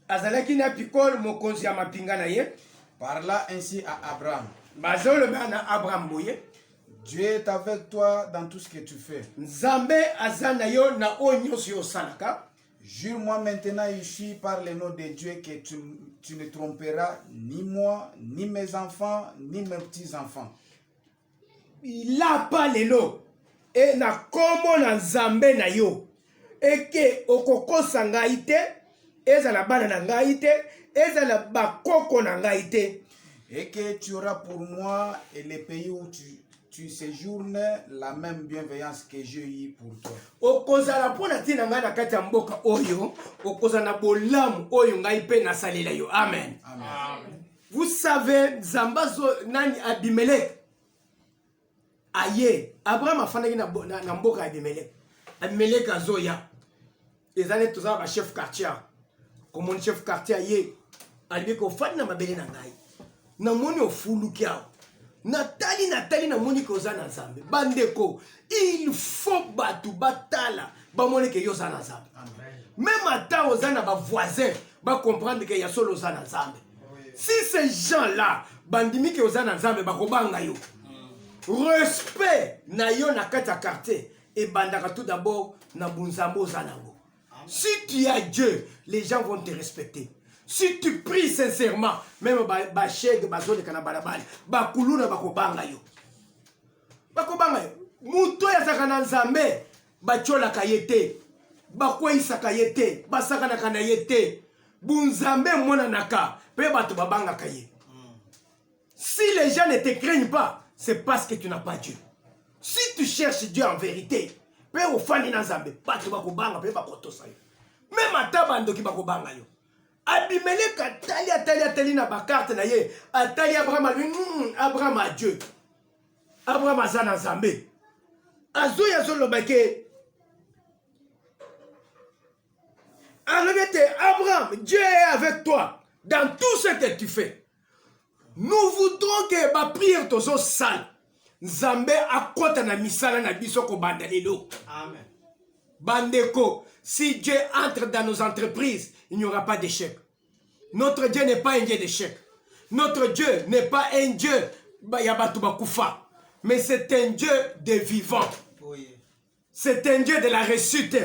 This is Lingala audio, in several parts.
azalaki na pikole mokonzi ya mapinga na ye parla ainsi à abraham bazoloba na abraham boye dieu est avec toi dans tout ce que tu fais nzambe aza na yo na oyo nyonso yo osalaka Jure-moi maintenant ici par le nom de Dieu que tu, tu ne tromperas ni moi, ni mes enfants, ni mes petits-enfants. lapa lelo e na nkombo na nzambe na yo eke okokosa ngai te ezala bana na ngai te ezala bakoko na ngai te et que tu auras pour moi et les pays où tu, tu séjournes la même bienveillance que j'ai eu pour toi. okozala mpo na ntina ngai na kati ya mboka oyo okozala na bolamu oyo ngai mpe nasalela yo amen, amen. amen. Vous savez Nzambe azo nani Abimelech aye Abraham afandaki na, na, na mboka ya Abimelech. Abimelech azoya eza neti toza na ba chef quartier komoni chef quartier aye alibi kofandi na mabele na ngai namoni ofuluki awa natali natali namoni ke oza na nzambe bandeko il faut bato batala bamoneke yo oza na nzambe meme ata oza na bavoisin ba comprendre que ya solo oza na nzambe si ces gens là bandimi ke oza na nzambe bakobanga yo respect na yo na kati ya quartier ebandaka tout d'abord na bonzambe oza nango si tu as dieu les gens vont te respecter si tu pries sincèrement meme bashege bazoleka na balabala bakuluna bakobanga yo bakobanga yo moto oyo azalaka na nzambe batyolaka ye te bakweisaka ye te basakanaka na ye te bunzambe emonanaka mpe bato babangaka ye si les gens ne te craignent pas c'est parce que tu n'as pas dieu si tu cherches dieu en vérité mpe ofandi na nzambe bato bakobanga mpe bakotosa yo meme ata bandoki bakobanga yo abimeleka atali atali atali na bakarte na ye atali abraham alobi hmm, abraham a dieu abraham aza na nzambe azoyi azoloba ke alobi ete abraham dieu est avec toi dans tout ce que tu fais nous voudrons ke bapriere tozosala nzambe akɔta na misala na biso kobanda lelo bandeko si dieu entre dans nos entreprises il n'y aura pas d'échec Notre Dieu n'est pas un Dieu d'échec. Notre Dieu n'est pas un Dieu ya bato bakufa. Mais c'est un Dieu des vivants. C'est un Dieu de la réussite.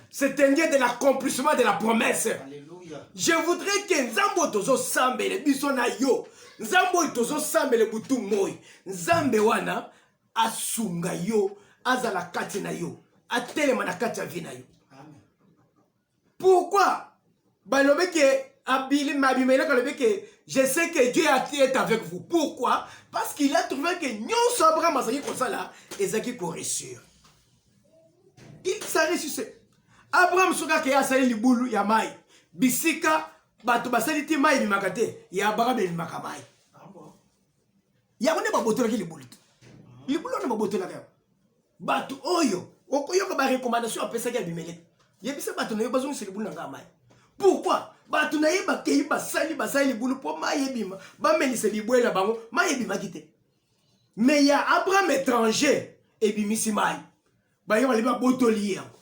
C'est un Dieu de l'accomplissement de la promesse. Alléluia. Je voudrais que Nzambo tozo sambele biso na yo. Nzambo tozo sambele butu moi. Nzambe wana asunga yo, azala kati na yo, atelema na kati ya vie na yo. Pourquoi balobi ke abili mabimeleka alobi ke je sais que Dieu est avec vous. Pourquoi? Parce qu'il a trouvé que nyonso Abraham azalaki kosala ezalaki koressure. Il s'est ressuscité. abraham soki akei asali libulu ya mai bisika bato basali te mai ebimaka te ya abraham ebimaka mai yango nde babotolaki libulu te libulu wana babotolaka yango bato oyo okoyoka barecommandation apesaki ya bimele yebisa bato na yo bazongisa libulu na ngai mai pourkui bato na ye bakei basali basali libulu mpo mai ebima bamelisa bibwele na bango mai ebimaki te me ya abraham étranger ebimisi mai baye bali babotoli ye yango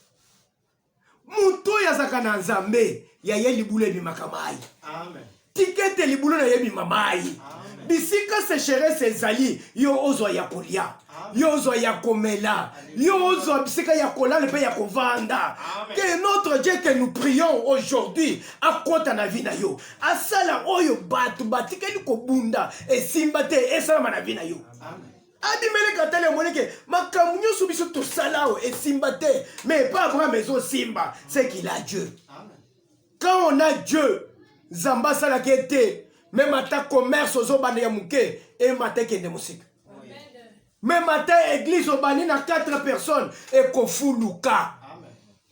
moto oyo azalaka na nzambe ya ye libulu ebimaka mai tika ete libulu na ye ebima mai bisika secherese ezali yo ozwa ya kolia yo ozwa ya komela yo ozwa bisika ya kolala mpe ya kovanda ke notre dieu ke nous prions aujourd'hui akota na vi na yo asala oyo bato batikali kobunda esimba te esalama na vi na yo Amen. abimeleke atali amoni ke makambo nyonso biso tosala oyo esimba te mais epa abraham ezosimba c'est qu'il a dieu quand on a dieu nzambe asalaki ete meme ata commerce ozobanda ya moke emata ekende mosika meme ata eglise obandi na 4 personnes ekofuluka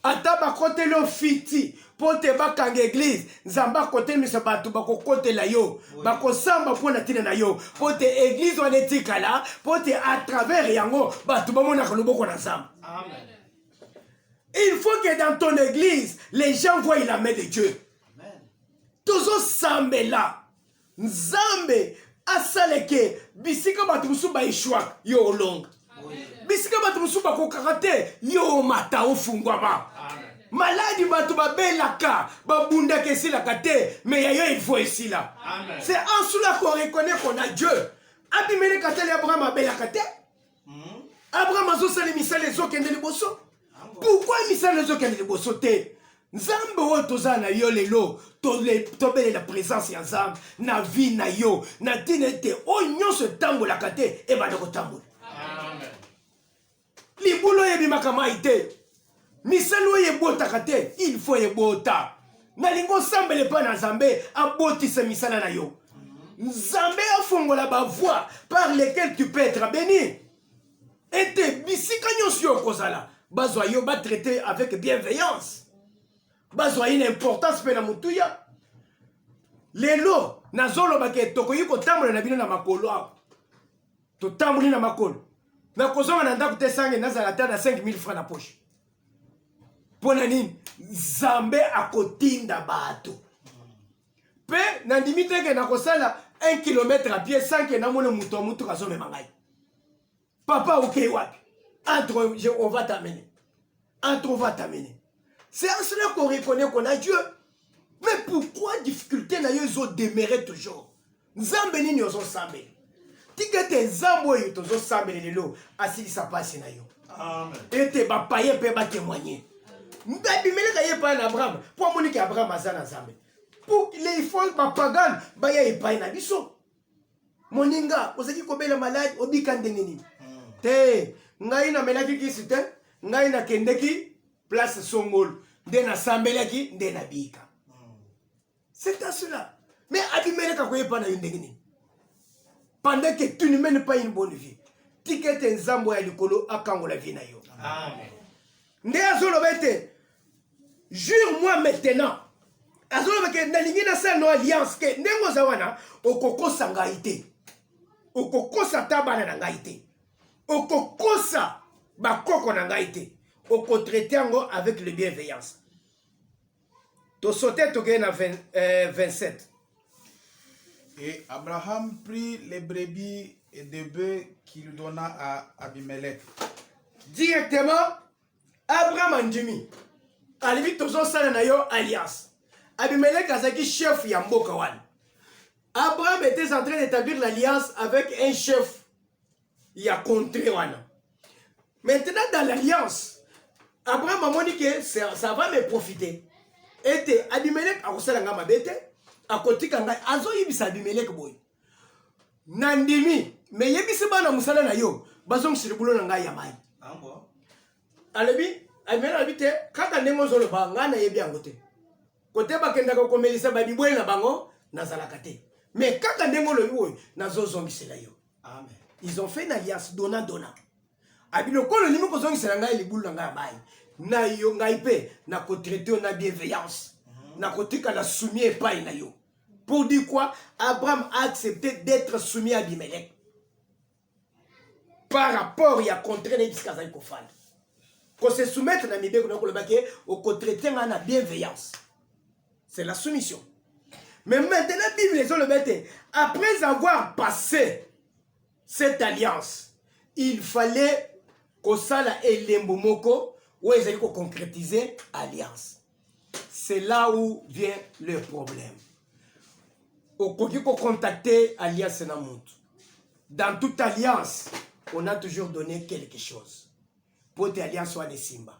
ata bakoteli yo fiti mpo te bakanga eglize nzambe akotelemisa bato bakokotela yo bakosamba mpo na ntina na yo mpo te eglize wana etikala mpo te a travers yango bato bamonaka loboko na nzambe il faut que dans ton église les gens voient la main de dieu tozosambela nzambe asaleke bisika bato mosusu baeshwaka yo olonga bisika bato mosusu bakokaka te yo omata ofungwama maladi bato babelaka babundaka esilaka te me ya yo ilfo esila se ansula korekoneko na dieu abimeleka tali abraham abelaka te hmm? abraham azosala misala ezokende liboso pourkui misala ezokende liboso te nzambe oyo toza na yo lelo tobelela presence ya nzambe na vie na yo na ntina ete oyo nyonso etambolaka te ebanda kotambola libulu oyo ebimaka mai te misali oyo ebotaka te il faut ebota nalingi osambela epai na nzambe abotisa misala na yo nzambe afongola bavoie par lequel tu peux être béni ete bisika nyonso yo okozala bazwa yo batraite avec bienveillance bazwa ye na importance mpe na motuya lelo nazolobaka tokoki kotambola na bino na makolo awa totamboli na makolo nakozonga na ndako te sange nazala ata na 5000 francs na poche mpo na nini nzambe akotinda bato mpe nandimi te ke nakosala 1 kilometre a pie sanke namona moto ya motuka azomema ngai papa okei wapi entre jehova tamene En trop va t'amener. C'est en cela qu'on reconnaît qu'on a Dieu. Mais pourquoi difficulté na yo ezo demeurer toujours? Nzambe nini ozo sambela? Tika ete nzambe oyo tozo sambela lelo asilisa pasi na yo. Amen. Ete ba paye pe ba témoigner. Ndabimeleka ye pa na Abraham, po amoni ke Abraham aza na Nzambe. Pour les fonds ba pagan ba ya epai na biso. moninga ozalaki kobela maladi obika ndenge nini hmm. te ngai namelaki kisi te ngai nakendeki place songolo nde nasambelaki nde nabika hmm. c'est à cela mais abimeleka koyepa na yo ndenge nini pendant que tu ne mènes pas une bonne vie tika ete nzambo ya likolo akangola vie na yo nde azoloba ete jure moi maintenant azoloba ke nalingi nasala no alliance ke ndenge oza wana okokosa ngai te okokosa ata bana na ngai te okokosa bakoko na ngai te okotraite yango avec le bienveillance tosote tokei na 20, euh, 27 et abraham prit les brebis et des bœufs qu'il donna à abimelech directement abraham andimi alobi tozosala na yo alliance abimeleke azalaki chef ya mboka wana abraham était en train d'établir l'alliance avec un chef ya contré wana maintenant dans l'alliance abraham amoni ke ça va me profiter ete abimeleke akosala ngai mabe te akotika ngai azoyibisa abimeleke boye na ndimi me yebisi bana mosala na yo bazongisa libulu na ngai ya mai alobi amena alobi te kaka ndenge ozoloba ngai nayebi yango te kote bakendaka komelisa babibwele na bango nazalaka te me kaka ndenge olobi oyo nazozongisela yo amen ils ont fait une alliance dona dona abi lokola olingi kozongisela ngai libulu na ngai ya mai na yo ngai mpe nakotraite yo na bienveillance mhm. nakotikala sumie epai na yo Pour dire quoi Abraham a accepté d'être soumis à Abimelech. Par rapport ya contrat na ye bisika azali kofanda. Ko se soumettre na mibeko na koloba ke okotraite nga na bienveillance. C'est la soumission. Mais maintenant Bible ezoloba ete après avoir passé cette alliance, il fallait kosala elembo moko oyo ezali koconcrétiser alliance. c'est là où vient le problème okoki kocontacte alliance na motu dans toute alliance on a toujours donné quelque chose mpo te alliance wana esimba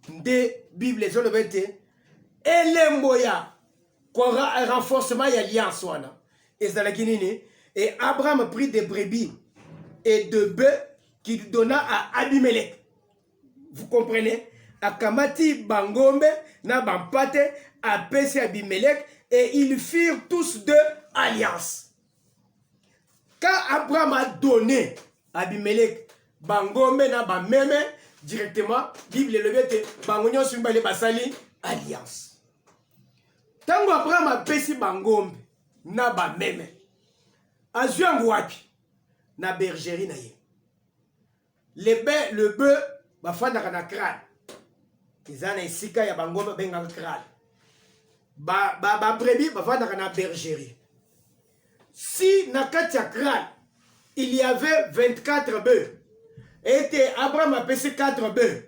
nde bible ezoloba ete elembo ya renforcement ya alliance wana ezalaki nini et abraham prit des brebis et de bœufs qu'il donna à abimelech Vous comprenez? Akamati bangombe na bampate apesi Abimelech et ils firent tous deux alliance. Quand Abraham a donné Abimelech bangombe na bameme directement, Bible elobi ete bango nyonso mibale basali alliance. Ntango Abraham apesi bangombe na bameme azwi yango wapi? Na bergerie na ye. le be le be bafandaka na crane eza na esika ya bango babengaka crane ba, ba, ba brebis bafandaka na bergerie si na kati ya crane il y avait 24 bœufs ete abraham apesi 4 bœufs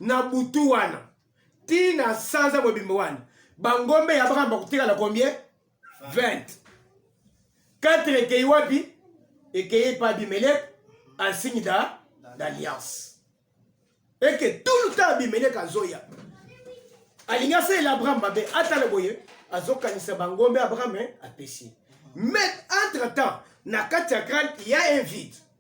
na butu wana ti na sanza mobimba wana bangombe ya abraham bakotikala combien 20 4 ekei wapi ekei epa abimelek ansigne da d'alliance eke tout le temps abimelek azoya alingi asalela abraham mabe atala boye azokanisa bangombe abraham eh, apesi mais entre temps na kati ya crane ya un vide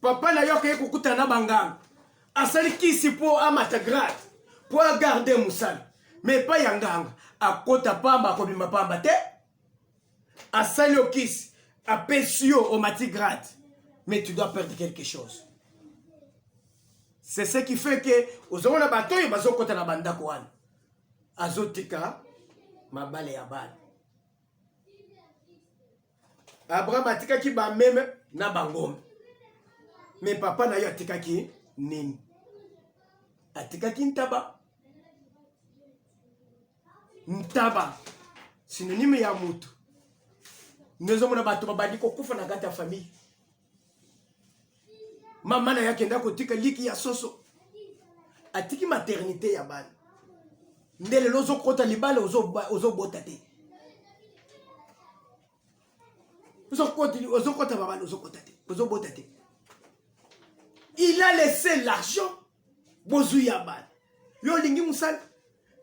papa na yo akei kokutana na banganga asali kisi mpo amata grade mpo agarde mosala me epai ya nganga akota pamba akobima pamba te asali yo kisi apesi yo omati grade mais tu dois perdre quelque chose c'est ce qui fait que ozomona bato oyo bazokota na bandako wana azotika mabale ya bana Abraham atikaki bameme na bangombe, me papa na ye atikaki nini? Atikaki ntaba. Ntaba sinonime ya motu. Nozomona bato babandi kokufa na kati ya famille, mama na ye akenda kotika liki ya soso atiki maternité ya bana nde lelo ozokota libala ozobota te ozokota babala ozokota te ozobota te il a laissé l'argent bozwi ya bana yo olingi mosala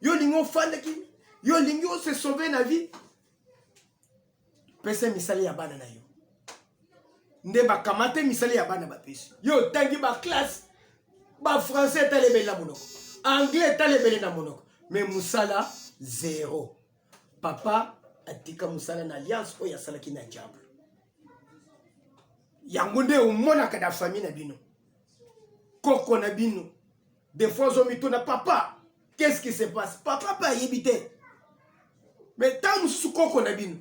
yo olingi ofandaki yo olingi ose sauve na vie pesa misali ya bana na yo nde bakamate misali ya bana bapesi yo otangi baklasse bafrançais etalemeli na monoko anglais etalemeli na monoko me mosala zero papa atika mosala na alliance oyo asalaki na diable yango nde omonaka na famille na bino koko na bino defoi ozomituna papa qu'est-ce qui se passe papa mpe ayebi te mais ntango mosusu koko na bino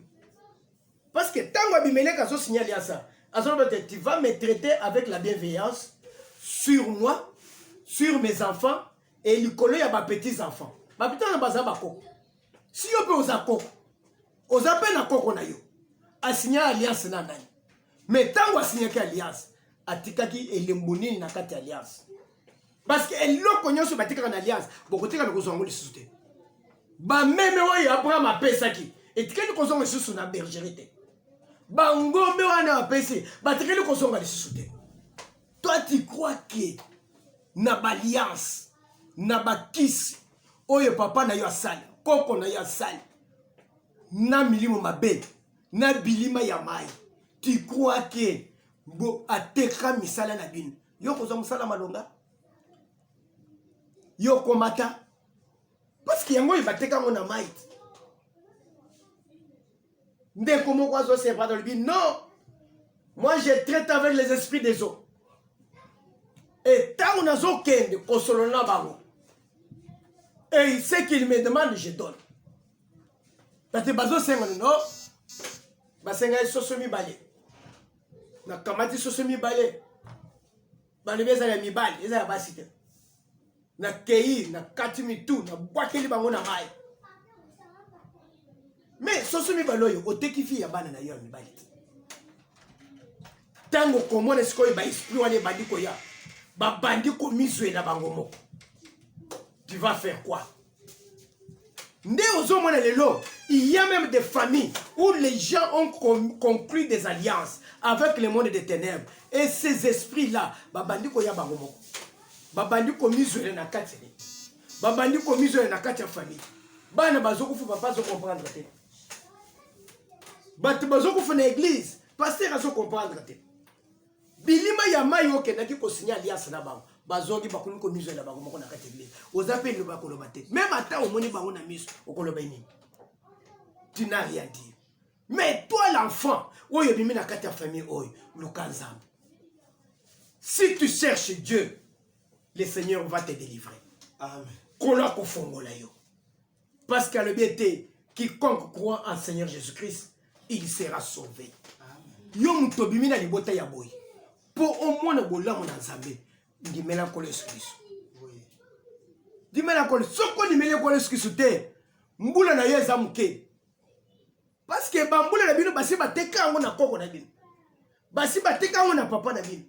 parce que ntango abimeleke azosigne alliance azoloba te tu vas me traiter avec la bienveillance sur moi sur mes enfants et likolo ya bapetits enfants bapetits na baza bakoko si yo mpe oza koko oza mpe na koko na yo asinya alliance na nani mais ntango asinyaki alliance atikaki elembo nini na kati ya alliance parce que eloko nyonso batikaka na alliance bokotika na kozwa yango lisusu te bameme oyo abraham apesaki etikali kozonga lisusu na bergerie te bangombe wana apesi batikali kozonga lisusu te toi tu crois que na baliance na bakisi oyo papa na yo asali koko na yo asali na milimo mabe na bilima ya mai tu crois que bo ateka misala na bino yo kozwa mosala malonga yo okomata parceke yango oyo bateka yango na mait ndeko moko azosepata olobi non moi je traite avec les esprits des eaux e ntango nazokende kosolola na bango et ce qu'il me demande je donne parce que bazosenga no basengai soso mibale nakamati soso mibale balobi ezala ya mibali eza ya basi te nakei nakati mitu nabwakeli bango na mai me soso mibale oyo oteki fi ya bana na yo ya mibali te ntango komona sikoyo baesprit wana ebandi koya babandi komizwela bango moko tu vas faire quoi nde ozomona lelo il y a même des familles où les gens ont conclu des alliances avec le monde des ténèbres et ces esprits là babandi koya bango moko babandi komizwela na kati ne babandi komizwela na kati ya famille bana bazokufa papa azocomprendre te bato bazokufa na église paster azocomprendre te bilima ya mai oyo okendaki kosigne alliance na bango bazongi bakomi komizwela bango moko na kati eglise oza mpe liloba ya koloba te meme ata omoni bango na miso okoloba nini tu n'as rien dire mais toi l'enfant oyo ebimi na kati ya famille oyo luka nzambe si tu cherches dieu le seigneur va te délivrer kolo akofongola yo Parce que alobi ete quiconque croit en Seigneur Jésus-Christ, il sera sauvé. Yo moto obimi na libota ya boye mpo omona bolamu na Nzambe, ndimela nkolo Yesu Kristo. Ndimela nkolo, soki ondimeli nkolo Yesu Kristo te, mbula na yo eza moke. Parce que bambula na bino basi bateka yango na koko na bino. Basi bateka yango na papa na bino.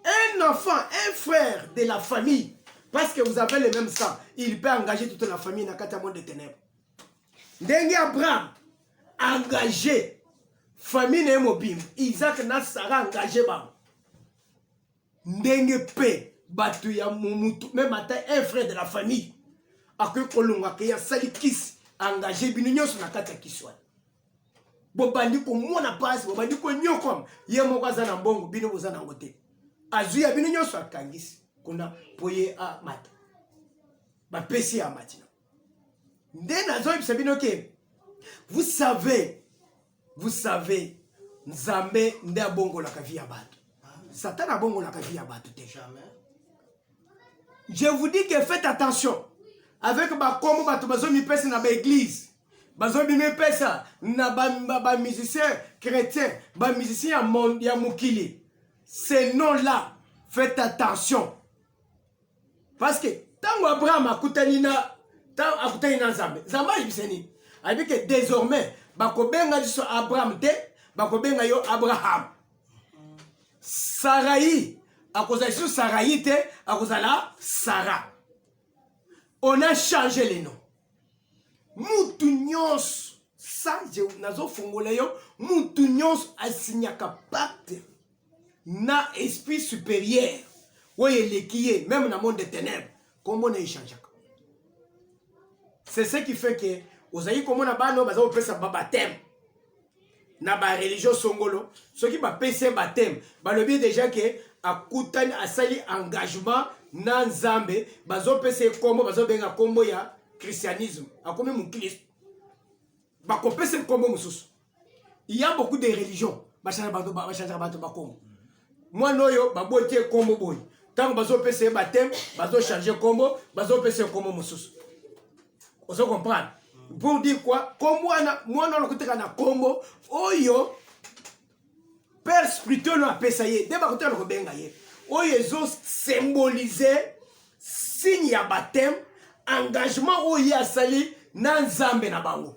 Un enfant, un frère de la famille parce que vous avez le même sang, il peut engager toute la famille na kati ya monde de ténèbres. Ndenge Abraham engagé famille na ye mobimba, Isaac na Sarah engagé bango. ndenge mpe bato ya momutu meme ata un frère de la famille akoki kolonga ke asali kisi engage bino nyonso na kati ya kisi wana bobandi komona mpasi bobandi konyokwama ye moko aza na mbongo bino boza na yango te azwi ya bino nyonso akangisi kuna mpo ye amata bapesi ya matina nde nazoyebisa bino ke vous savez Vous savez, Nzambe nde abongolaka vie ya bato. Satan abongolaka vie ya bato te. Je vous dis que faites attention avec bakombo bato bazomipesa na baeglise bazomimipesa na bamusicien ba, ba chrétien bamusicien ya, ya mokili ce nom là faites attention parce que ntango abraham akutani na ntango akutani na nzambe nzambe ayebisa nini ayebi ke désormais bakobenga liso abraham te bakobenga yo abraham sarai akozala liso sarai te akozala sara on a change le nom mutu nyonso sa nazofungola yo mutu nyonso asinyaka pacte na esprit supérieur oyo eleki ye meme na monde de ténèbres kombo na echangeaka c'est ce qui fait que ozali komona bana oyo baza kopesa babateme na bareligion songolo soki bapesi ye bateme balobi deja ke akutani asali engagement na nzambe bazopesa ye nkombo bazobenga nkombo ya christianisme akomi moklisto bakopesa ye nkombo mosusu il y a beaucoup de religions bachangaka bato bachangaka bato bakombo mwana oyo baboti ye kombo boye ntango bazopesa ye bateme bazochange kombo bazopesa ye kombo mosusu ozo comprendre pour dire quoi kombo wana mwana wana koteka na kombo oyo père spirituel oyo apesa ye nde bakoteka na kobenga ye oyo ezosymbolize signe ya bateme engagement oyo ye asali na nzambe na bango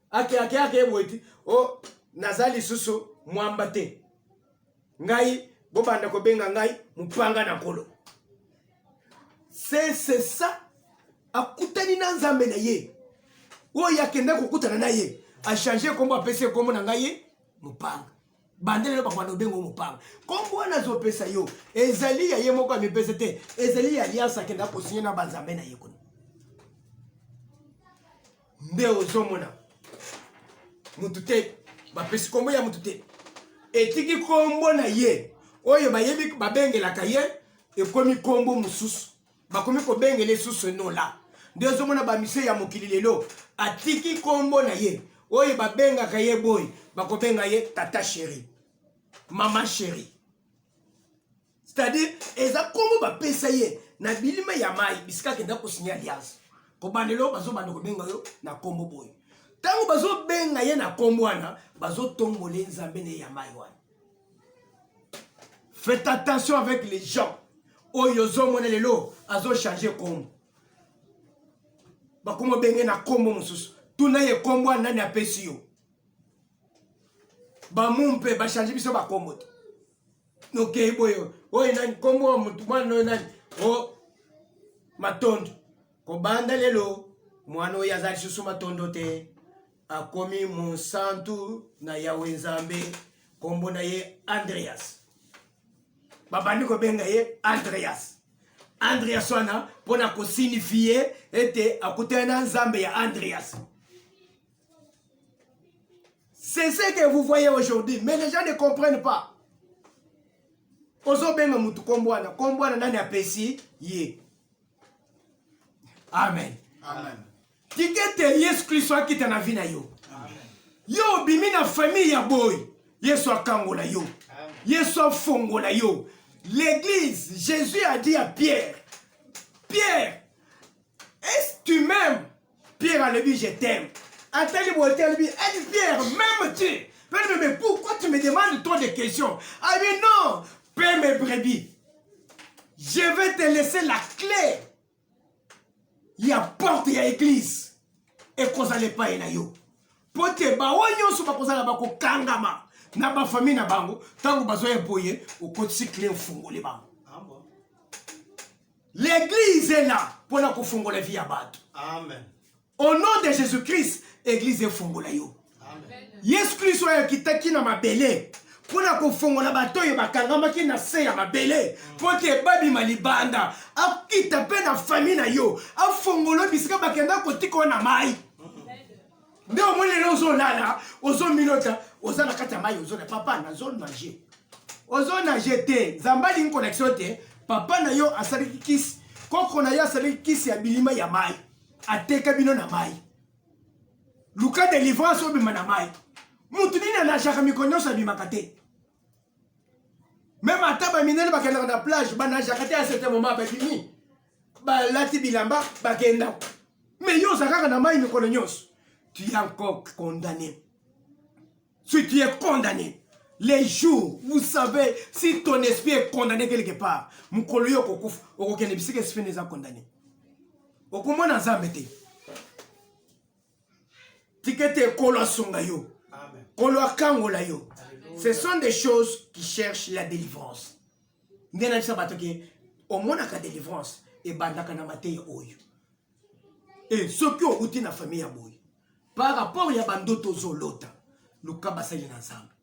ake ake ake boye ti o oh, naza lisusu mwamba te ngai bobanda kobenga ngai mopanga na nkolo sesesa akutani na nzambe na ye oyo akenda kokutana na ye achange nkombo apesi nkombo na ngai ye mopanga banda lelo bakoanda obenga o mopanga nkombo wana azopesa yo ezali ya ye moko amipesa te ezali ya alianse akenda kosinye na banzambe na ye kuna nde ozomona mutu te bapesi kombo ya mutu te etiki kombo na ye oyo bayebi babengelaka ye ekomi kombo mosusu bakomi kobengela esusu enola nde ozomona bamise ya mokili lelo atiki kombo na ye oyo babengaka ye boye bakobenga ye tata sheri mama sheri c'est-à-dire eza kombo bapesa ye na bilima ya mai bisika akenda kosinya alliance kobandelo bazobanda kobenga yo na kombo boye ntango bazobenga ye na kombo wana bazotombola ye nzambe na ye ya mai wana faites attention avec les gens oyo ozomona lelo azochange kombo bakoma benge na kombo mosusu tuna ye kombo wana nani apesi yo bamumpe bachange biso bakombo te nokei boye oyo nani nkombo ya motu mwana oyo nani o matondo kobanda lelo mwana oyo aza lisusu matondo te akomi monsantu na yawe nzambe nkombo na ye andreas babandi kobenga ye andreas andreas wana mpo na kosinifie ete akutani na nzambe ya andreas C'est ce que vous voyez aujourd'hui, mais les gens ne comprennent pas. ozobenga mutu kombo wana kombo wana nani apesi ye amen, amen. tikete yesu kristo akita na vi na yo amen. yo obimi na famille ya boyi yesu akangola yo amen. yesu afongola yo l'église jésus a dit à pierre pierre est ce tu m'aimes Pierre alobi je t'aime. Atali boye te alobi adi Pierre même tu. Pierre me mais pourquoi tu me demandes trop de questions? Abi ah, non, paie mes brebis. Je vais te laisser la clé. Ya porte ya église. Ekozala epai na yo. Mpo te baoyo nyonso bakozala bakokangama na bafamille na bango ntango bazoya boye okotisi clé ofungoli bango. L'église est là pour la kofungola vie ya bato. Amen. Au nom de Jésus-Christ, église efungola yo. Amen. Yesu Kristo ayakitaki na mabele mpo na kofongola bato oyo bakangamaki na se ya mabele mpo te babima libanda akita mpe na fami na yo afongolo bisika bakenda kotika na mai nde omoni lelo ozolala ozomilota oza na kati ya mai ozona papa nazo nage ozo nage te nzambe alingi connexion te papa na yo asalaki kisi koko na yo asalaki kisi ya bilima ya mai ateka bino na mai luka delivrance obima na mai motu nini anajaka mikolo nyonso abimaka te meme ata baminene bakendaka na plage banajaka te ya certain moment babimi balati bilamba bakenda me yo oza kaka na mai mikolo nyonso tu es encore condamné si tu es condamné les jours vous savez si ton esprit est condamné quelque part mokolo yo okokufa okokende bisika esprit na eza condamné okomona nzambe te tika ete nkolo asunga yo nkolo akangola yo ce sont des choses qui cherchent la délivrance nde nayebisa bato ke omonaka délivrance ebandaka na mateya oyo e soki outi na famille ya boye par rapport ya bandoto ozolota luka basali na nzambe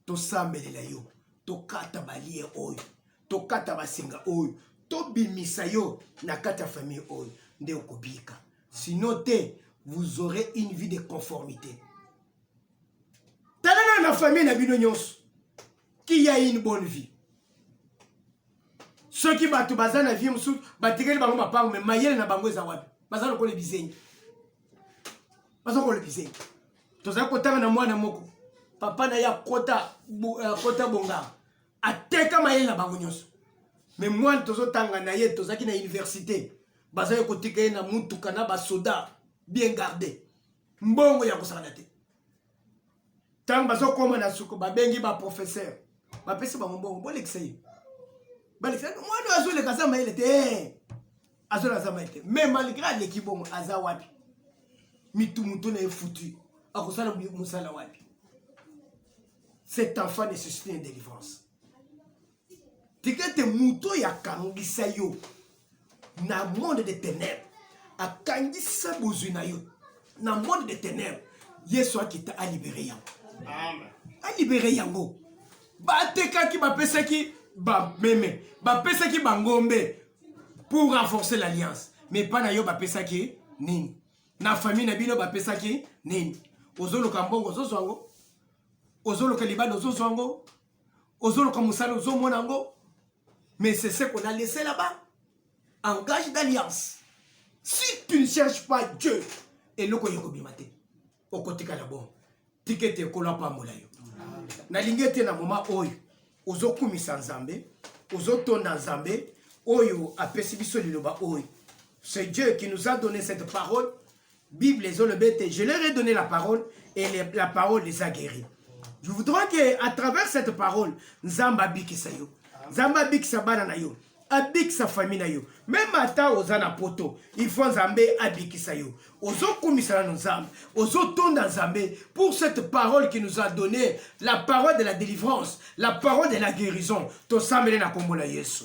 tosambelela yo tokata balie oyo tokata basinga oyo tobimisa yo na kati ya famille oyo nde okobika sinon te vous aurez une vie de conformité tala na na famille na bino nyonso qui a une bonne vie soki bato baza na vie mosusu batikeli bango mapango me mayele na bango eza wapi baza lokola bizengi baza kolekisa tozali kotanga na mwana moko papa na ye akota akota bonga ateka mayele na bango nyonso me mwana tozotanga na ye tozalaki na université bazali kotika ye na motuka na basoda bien garde mbongo ya kosakana te ntango bazokoma na suku babengi baprofesseur bapesi bango mbongo bolekisa ye balekisa mwana oyo azoleka aza mayele te eh! azoleka aza mayele te mais malgré aleki bongo aza wapi mitu moto na ye futu akosala mosala wapi cet enfant ne suscite une délivrance tika ete moto oyo akangisa yo na monde de ténèbres akangisa bozwi na yo na monde de ténèbres yesu akita alibere yango alibere yango batekaki bapesaki bameme bapesaki bangombe pour renforcer l'alliance mais mpa na yo bapesaki nini na famille na bino bapesaki nini ozoluka mbongo ozozwa yango ozoluka libanda ozozwa yango ozoluka mosala ozomona yango mais c'est ce qu'on a laissé là-bas engage d'alliance si tu ne cherches pas dieu eloko ya kobima te okotikala bongo tikete ekolo apambola yo nalingi ete na moma oyo ozokumisa nzambe ozotonda nzambe oyo apesi biso liloba oyo c'est dieu qui nous a donné cette parole bible ezoloba ete je leur ai donné la parole et les, la parole les a guéris je voudrais que à travers cette parole nzambe abikisa yo nzambe abikisa bana na yo abikisa fami na yo meme ata oza na poto ifo nzambe abikisa yo ozokumisa nano nzambe ozotonda nzambe pour cette parole qui nous a donné la parole de la délivrance la parole de la guérison tosambele na nkombo na yesu